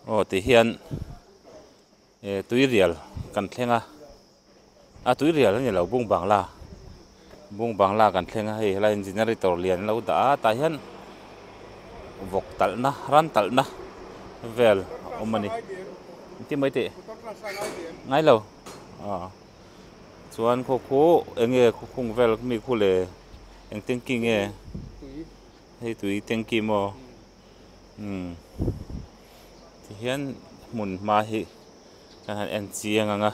aw tih hian e tuirial kan thleng a a tuirial a nilo bung bangla bung bangla kan thleng a hei hala hian generator lian a lo dah a tah hian vawk talhna ran talhna vel a awm a ni engti mawi tih ngai lo aw chuan khawkhu eng nge khukhung vel mikhu leh eng tanky nge hei tui tanky maw. Tihian hmun hma hi kan han en chiang ang a.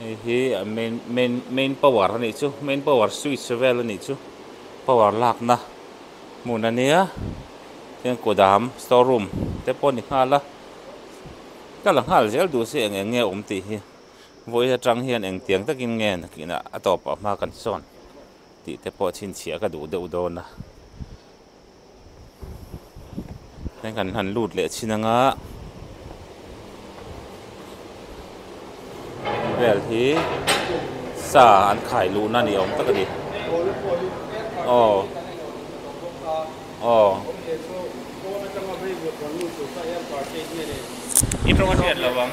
heihi a main main main power a nih chu main power switch vel a nih chu power lakna hmun a nia heng kawdam store room te pawh a ni nghal a ka la nghal zel duh se eng eng nge a awm tih hi vawi atang hian engtiang takin nge nakin a tawp a hma kan sawn tih te pawh chhinchhiah ka duh deuh dawn a. Heng kan han lut leh chhin anga vel hi sa an khai luhna ni awm tak a ni aw aw i rawng a hriat lovang.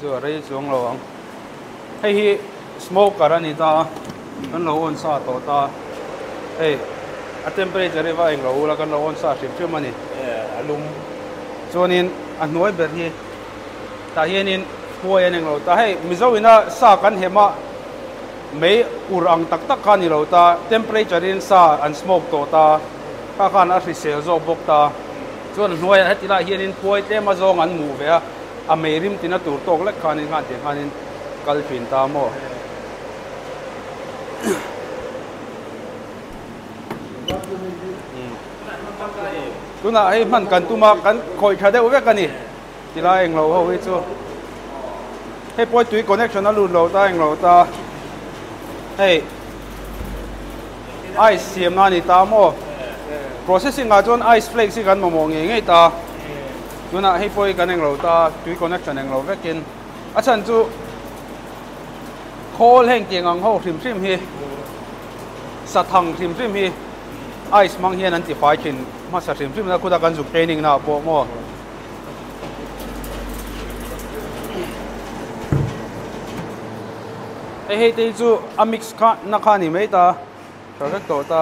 Chu a rei chuang lo ang. Hei hi smoker a ni ta, kan lo on sa tawh ta. Hei, a temperature hi va eng lo u la, kan lo on sa hrim hrim a ni. A lum. Chuanin a hnuai ber hi, tah hianin huai an eng lo ta. Hei, Mizo ina sa kan hem a, mei ur ang tak tak kha a ni lo ta. Temperature in sa an smoke tawh ta. Kha khan a hrisel zawk bawk ta. Chuan hnuaiah heti lai hianin puai tlema zawng an mu ve a, a mei rim tina tur tawk lek khanin nghah ti khanin kal thin ta maw. Tunah hei hman kan tum a, kan khawih tha deuh vek a ni. Ti lai englo ho hi chu hei pawi tui connection a lut lo ta englo ta hei ice siam na ni ta mo processing a chuan ice flakes hi kan mamawh ngei ngei ta tuna hei pawi kan englo ta tui connection englo vekin a chan chu khawl heng tiang ang ho hrim hrim hi sa thang hrim hrim hi ice mang hian an ti fai thin hmasa hrim hrim na khuda kan zuk training na pawh mo Hei hei te hi chu a mix kha na kha ni mai ta tha vek tawh ta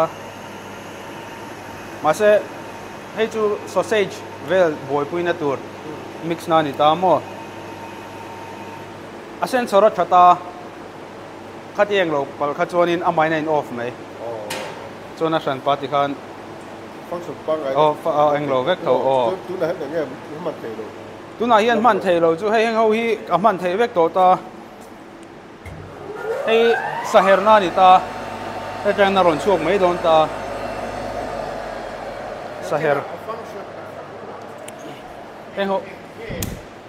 mahse hei chu sausage vel buaipui na tur mix na ni ta maw a sen chho rawt tha ta khatiang lo pal kha chuan in a mine a in off mai chuan a hran pah ti khan a eng lo vek tho aw tunah hian hman thei lo chu hei heng ho hi a hman thei vek tawh ta hei saherna a ni ta hetiang a rawn chhuak mai dawn ta saher heng ho.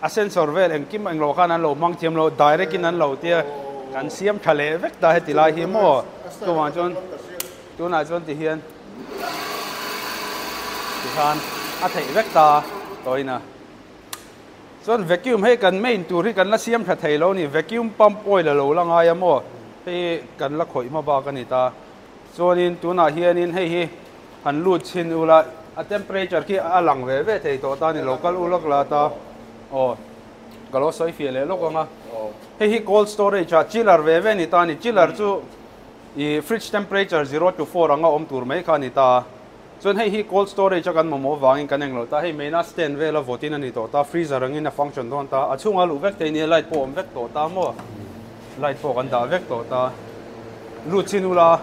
A sensor vel engkim englo khan an lo hmang thiam lo, direct in an lo tia kan siam tha leh vek ta heti lai hi maw? Chuvang chuan tunah chuan ti hian ti khan a theih vek ta tawina chuan vacuum hei kan main tur hi kan la siam tha thei lo ni, vacuum pump oil a lo la ngai a maw? Hei kan la khawih hma bak a ni ta. Chuanin tunah hianin hei hi han lut chhin ula, a temperature khi a lang ve ve thei tawh ta a ni lo, kal u lawk la ta, aw ka lo sawi fiah leh lawk ang a, hei hi cold storage a chiller ve ve a ni ta a ni, chiller chu ih fridge temperature zero to four anga awm tur mai kha a ni ta a. Chuan hei hi cold storage a kan mamawh avangin kan englo ta, hei maina stand vela vawtin a ni tawh ta, freezer angin a function dawn ta, a chhunga luh vek te nia light pawh a awm vek tawh ta maw, light pawh kan dah vek tawh ta, lut chin ula,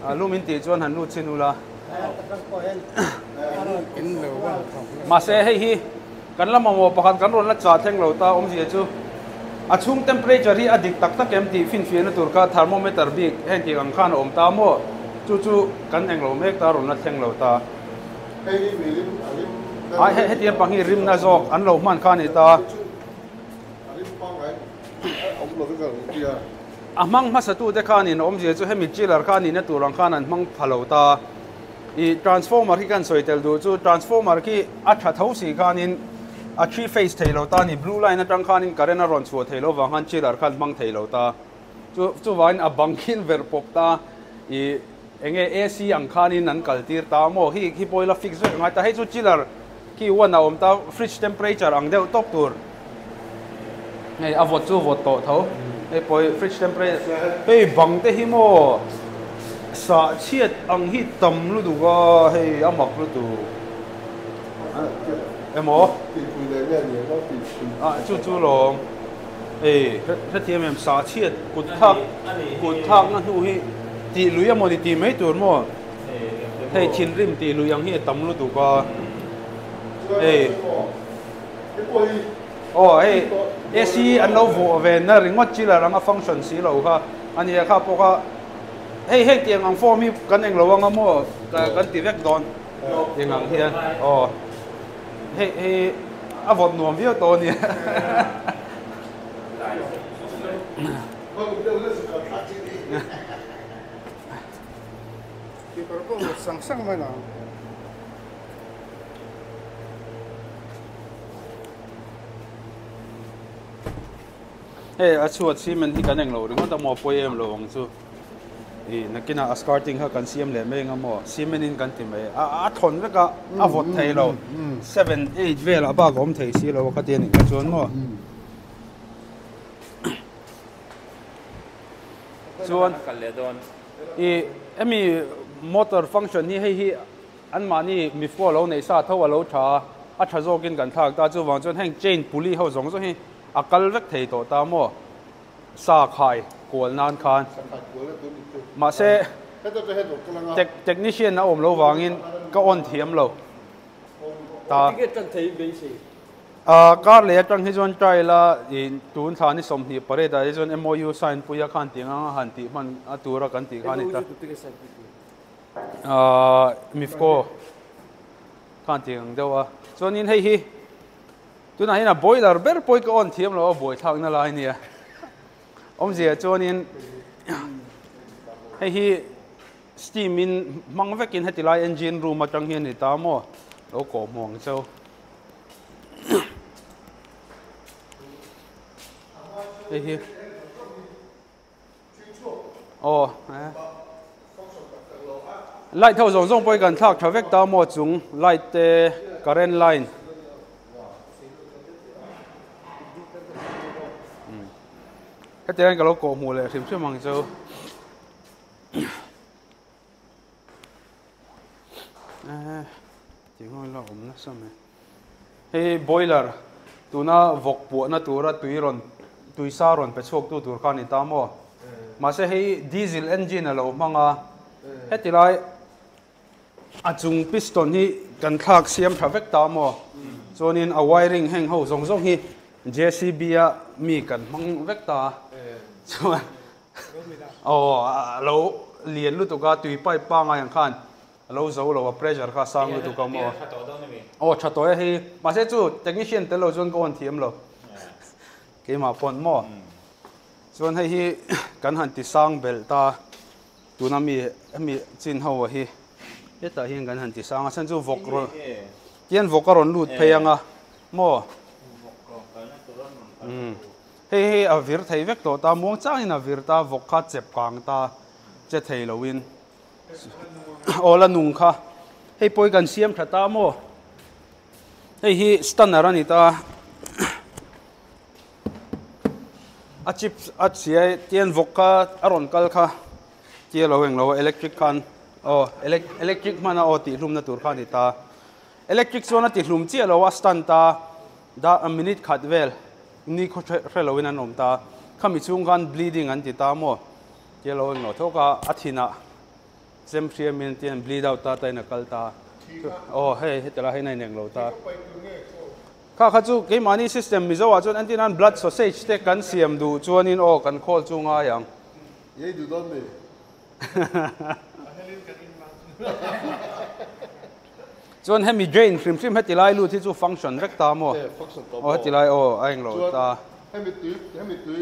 a lum in tih chuan han lut chin ula, mahse hei hi. Kan lam mamawh pakhat kan rawn la chah thleng lo ta awmzia chu a chhung temperature hi a dik tak tak em tih finfiahna tur kha thermometer bik heng thik ang khan a awm ta maw? Chu chu kan eng lo mek ta rawn la thleng lo ta. Hei hi mi rim a rim fel mai a ni ta. Hetiang pang hi rimna zawk an lo hman kha a ni ta. Chu chu a rim pangai a awm lo vek ang i tia. A hmang hmasatute khanin awmzia chu hemi chiller kha nihna tur ang khan an hmang pha lo ta. I transformer hi kan sawi tel duh chu transformer khi a tha tho si khanin a three phase thei lo ta ni blue line atang khanin current a rawn chhuah thei lo vang khan chiller khan hmang thei lo ta chu chuvain a bang khin ver pawp ta i enge ac ang khanin an kaltir ta maw hi hi pawila fix vek ngai ta hei chu chiller Khi huan a awm ta, fridge temperature ang deuh tawp tur hei a vawt chu vawt tawh tho. Hei pawhi fridge temperature hei bang te hi maw sah chhiat ang hi tam lutuk a hei a mak lutuk emaw tihpui leh nge ni emaw tih hri a chu chu lawm hei hrethiam em sah chhiat kut thak kut thakna hnu hi tih lui a maw ni tih mai tur maw. Hei thinrim tih luih ang hi a tam lutuk a. Hei. Aw, hei AC an lo vuh ve na ringawt chil a ranga function si lo kha. A nia kha pawk a. Hei heng tiang ang form hi kan eng lo ang a maw? Kan ti vek dawn tiang ang hian. Aw. Hei hi a vawt nuam viau tawh a nia. Keeper pawh mut sang sang mai lo. Hey, a chhuat simen hi kan eng lo ringawt amaw pawh em lo ang chu i nakina a scarting ha kan siam leh mai engamaw simen in kan ti mai a a thon vek a a vawt thei lo 7 8 vel a bak awm thei si lo ka ti ani ka chuan maw chuan i emi motor function hi hei hi an mahni mifu a lo nei sa tho a lo tha a a tha zawk in kan thlak ta chuvang chuan heng chain pulley ho zawng zawng hi a kal vek thei tawh ta maw sa khai kual nan khan mahse technician a awm lo vang in ka on thiam lo ta. A kar leh atang hi chuan trial a in tun thla ni sawmhnih parade ah hi chuan MOU sign pui a khan tih ngang a han tih hman a tura kan tih kha a ni ta. Ahh mifco khan tih ang deuh a chuanin hei hi tunah hian a boiler ber pawh hi ka on thiam lo a buai thlak na lai nia awmzia chuanin hei hi Steam in hmang vekin heti lai engine room atang hi a ni ta maw? Lo kawh hmu ang chau. Hei hi. Oh, eh. Light ho zong zong pawh kan thlak tha vek ta maw chung light te current line. Heti anh ka lo kawh hmu leh hrim hrim ang chau. Eh, ti ngoi la om na sam e. Hei boiler tuna vok puah na tura tui ron tui sa ron pe chhuak tu tur khan ni ta mo. Ma se hei diesel engine lo manga hetilai A chung piston hi kan thlak siam tha vek ta maw? Chuanin a wiring heng ho zawng zawng hi JCB a mi kan hmang vek ta a. Chuan aw a lo lian lutuk a tui pipe pangai ang khan a lo zo lo a pressure kha a sang lutuk a maw? Aw tha tawh e hei hi. Mahse chu technician tel lo chuan ka awn thiam lo. Keimah pawn maw? Chuan hei hi kan han ti sang belh ta a. Tuna mi hemi chin ho hi hetah hian kan han ti sang a, chhan chu vawk rawn kian vawk a rawn lut phei ang a maw? Umm hei hi a vir thei vek tawh ta, muang chang in a vir ta, vawk kha chep kang ta che thei lo in aw la nung kha hei pawh hi kan siam tha ta maw? Hei hi stunner a ni ta. a chip a chhiai tian vawk kha a rawn kal kha tia lo eng lo a electric khan aw electric hmana aw tih hlumna tur kha a ni ta electric chuan a ti hlum chiah lo a stand ta da a minute khat vel ni khaw hre hre lo in an awm ta khami chhung khan bleeding an ti ta maw tia lo eng lo thawk a a thinah Chem hria min ti hian bleed out ta ta in a kal ta aw hei heta la hei nai neng lo ta kha kha chu kei mani system mizo a chuan anti nan blood sausage te kan siam du chuan in aw kan call chu ngai ang ei du don ni chuan hemi drain hrim hrim heti lai lut hi chu function vek ta mo aw heti lai aw a eng lo ta hemi tui hemi tui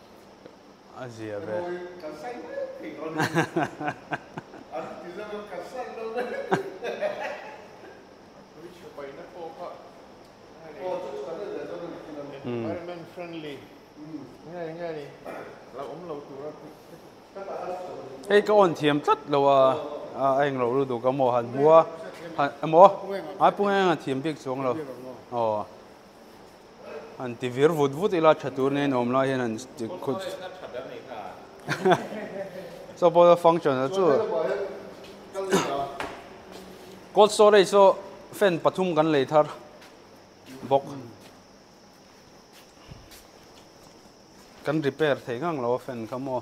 a zia ve. Hei ka on thiam tlat lo a, a a engloh lut duh ka maw han hmu a, emaw a pu nge ang a thiam bik chuang lo aw. an ti vir vut vut ila tha tur nen awm lai hian an ti khut so pawh function a chu cold storage chu fan pathum kan lei thar bawk kan repair thei ngang lo fan kha maw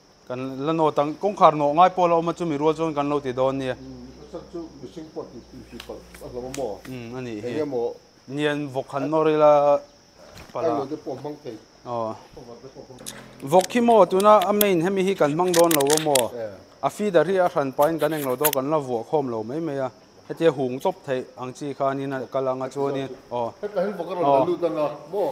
Kan la nawt ang. Kawngkhar nawh ngai pawh a la awm a, chumi rual chuan kan lo ti dawn nia. Umm, ka chak chu mihring pawh tih tih tih palh a hlawm a maw? Umm, a nih hi. Eng emaw. Nian vawk han nawr ila palh a. Ai lo te pawh hmang thei. Aw. Ka var te pawh hmang thei. Vawk khi maw tuna a main hemi hi kan hmang dawn lo a maw? A feeder hi a hran pahin kan eng lo dawn a, kan la vuah khawm lo mai mai a. Hetia hung tawp theih ang chi khanin a kal ang a chuanin. Aw. Hetah hian vawk a rawn la lut ang a maw?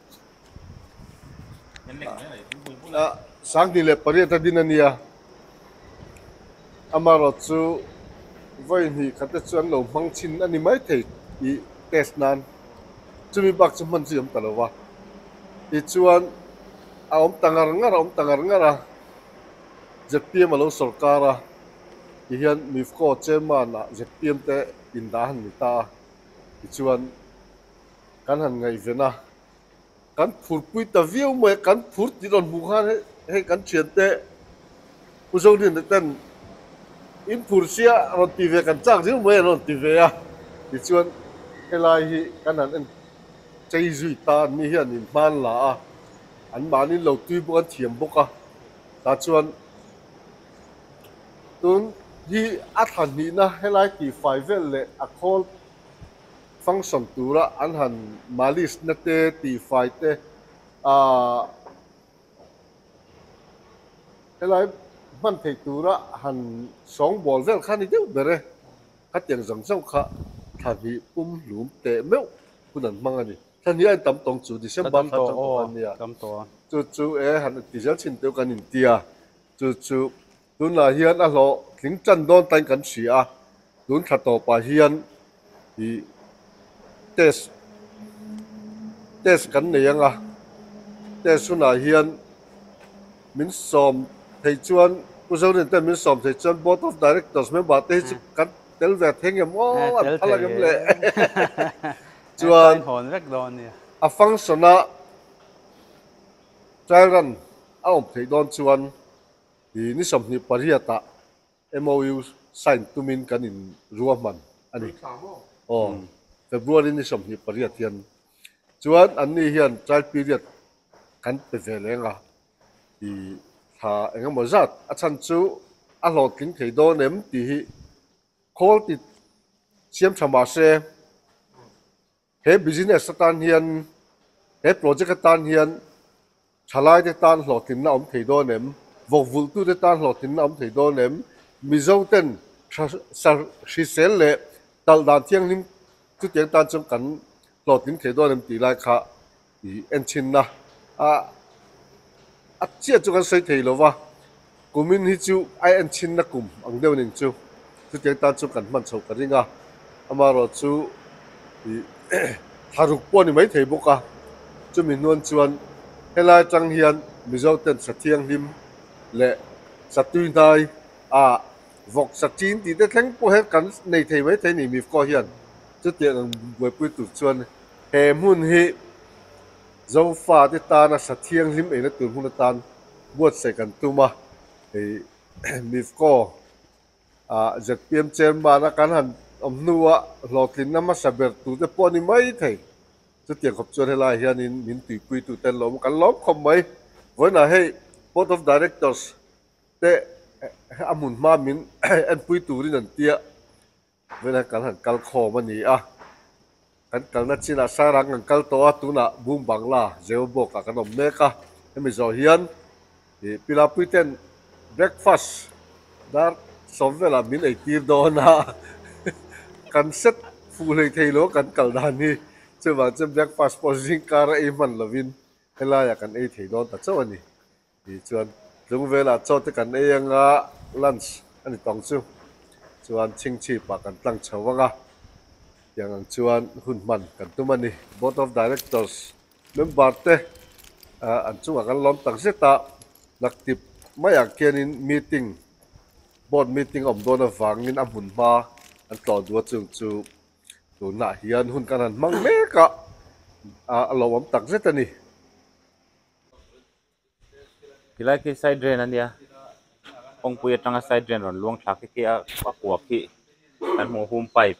a sang tih leh pariat a din a nia amarawt chu vawi hnih kha te chu an lo hmang chhin a ni mai thei tih test nan chumi bak chu hman chu awm ta lo va tichuan a awm ta ngar ngar a awm ta ngar ngar a zpm a lo sawr kar a tih hian mifco chairman ah zpm te indah a han ni ta a tichuan kan han ngaihven a, kan phurpui ta viau mai a, kan phur tih rawn hmuh khan hei kan thiante Pu Zawngtin te ten in phur sia rawn ti ve kan chak zel mai an rawn ti ve a, tichuan helai hi kan han en chei zui ta an nih hi an in hman la a, an mahni lo tui bawk an thiam bawk a, tah chuan tun hi a tha hnihna helai tihfai vel leh a khawl function tura an han malice nate tih fai te ahh helai hman theih tura han sawng bawl vel kha a ni deuh ber e. Khatiang zang zauh kha thlahnih pum hlum teh meuh hun an hmang a ni. Thlahnih a intam tawng chu December thla chang tawh khan a ni a, chu chu e han ti zel chin teuh kan inti a, chu chu Tunlaiah hian a hlawh tling tan dawn tain kan hria a, tun thla tawpah hian ih test test kan nei anga test hunah hian min sawm thei chuan Pu Zorin ten min sawm thei chuan Board of Directors member te hi chu kan tel ve theng em aw an phal ang em le chuan a function a trial run a awm theih dawn chuan I ni sawmhnih pariat ah MOU sign tumin kan in ruahman a ni. Aw, February ni sawmhnih pariat hian. Chuan an ni hian trial period kan pe ve leng a. I thla engemaw zat a chhan chu a hlawhtling thei dawn em tih hi khawl ti siam tha mahse, He business atan hian, he project atan hian thalaite tan hlawhtlinna awm thei dawn em? Vawkvulhtute tan hlawhtlinna awm thei dawn em? Mizo ten thra sa hrisel leh talh dan thianghlim chutiang tan chuan kan hlawhtlin thei dawn em tih lai kha Enthinna ah a chiah chu kan sawi thei lova, kumin hi chu a enthinna kum ang deuh ning chu, chutiang tan chu kan hman chho ka ring a, amaherawh chu tha ruk pawh a ni mai thei bawk a, chumi hnuan chuan helai atang hian Mizo ten sa thianghlim leh sa tuihnai a vawk sa ṭin tih te thleng pawh hian kan nei thei mai thei a ni, Mifco hian chutiang ang buaipui tur chuan. He hmun hi Jehova-te tana hra thianghlim eina tur hmun atan buatsaih kan tum a. Hei Mifco ZPM Chairman-a kan han awm hnuah hlawhtlinna hmasa ber turte pawh a ni maithei. Chutiang khawp chuan helaiah hianin min tuipuitute an lo awm a, kan lawm khawp mai. Vawiinah hei Board of Directors-te a hmun hma min enpui turin an tia. Vei lai kal han kal khawm a ni a, kan kalna chinah sangrang kan kal tawh a, tunah Bum Bangla zeu bawkah kan awm mek a, hemi zawh hian ih Pilapui ten breakfast dar sawm velah min ei tir dawn a, kan set fuh hlei thei lo kan kal dan hi, chuvang chuan breakfast pawh zingkar a ei hman lovin helaia kan ei thei dawn ta chauh a ni. Ti chuan tlung velah Chawte kan ei anga lunch a ni tawng chu, chuan chhing chhipah kan tlang chho vang a, tiang ang chuan hun hman kan tum a ni. Board of Directors member te an chungah kan lawm tak zet a, hnaktip mai ah khianin meeting, board meeting awm dawn avangin a hmun hma an tlawh duh a chung chu tunah hian hun kan han hmang mek a, a lo awm tak zet a ni. tilai khi side drain a nia kawngpui atanga side drain rawn luang thlak khi a kua khi kan hmuh hum pipe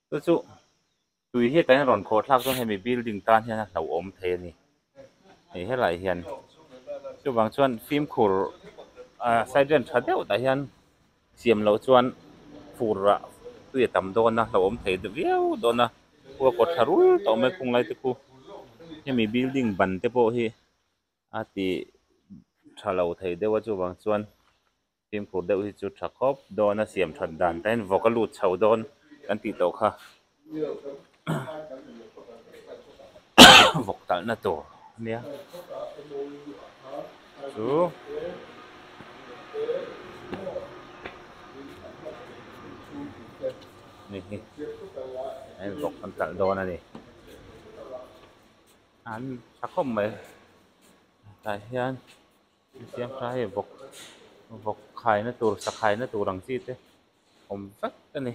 chu chu tui hi kan rawn khawh thlak dawn hemi building tan hian a hlauhawm thei a ni hei helai hian chuvang chuan fimkhur ahh side drain tha deuh tah hian-- Siam loh chuan fur ah tui a tam dawn a, hlauhawm thei viau dawn a, khua a kawt thla rul tawh mai khung lai te khu. Hemi building ban te pawh hi a ti tha lo thei deuh a, chuvang chuan fimkhur deuh hi chu tha khawp dawn a, siam that dan tain vawk a lut chho dawn kan tih tawh kha. vawk talhna tur a nia chu hei hi an vawk an talh dawn a ni an tha khawp mai tah hian nihfiam kha hei vawk vawk khaina tur sakhaina tur ang chi te awm vek a ni.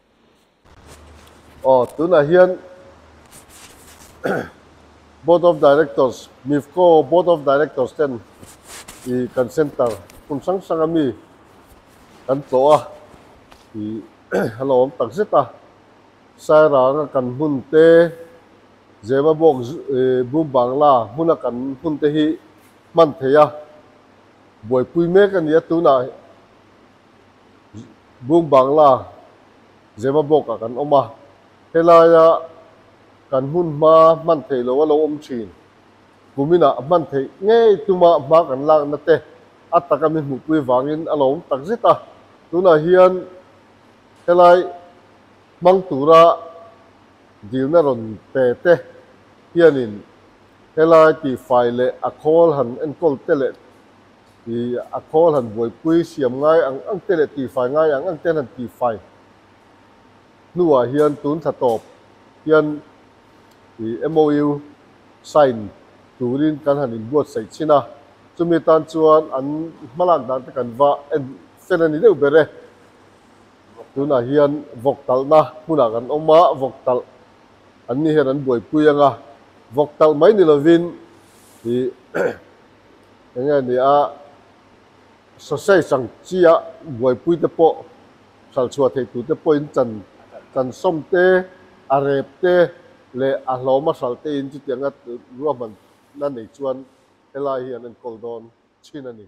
Aw, tunah hian Board of Directors, Mifco Board of Directors ten ih kan centre hmun hrang hrang ami kan tlawh a, ih a lo awm tak zet a. Sairanga kan hmun te, Zebabawk Boom Bangla hmuna kan hmun te hi hman thei a, buaipui mek a ni a tunah. Bung Bangla zema blog-ah kan awm a, helaia kan hun hma hman theih loh a lo awm thin. Kuminah hman theih ngei tuma hma kan lakna te a taka mi hmuhpui vangin a lo awm tak zet a, tunah hian helai hmang tura dilna rawn pe te hianin helai tifai leh a khawl han enkawl te leh i a khawl han buaipui siam ngai ang angte leh tifai ngai ang angte an han tifai hnuah hian tun thla tawp hian i MOU sign turin kan han inbuatsaih chin a, chumi tan chuan an hmalak dante kan va en fel a ni deuh ber e. Tunah hian vawk talhna hmunah kan awm a, vawk talh an ni hian an buaipui anga vawk talh mai ni lovin i Enge nia sausage ang chia buaipui te pawh hralhchhuah theih tur te pawhin chan chansawm te, a rep te leh a hlawm a hralh tein chutiang a ruahman na nei chuan helai hi an enkawl dawn chin a ni.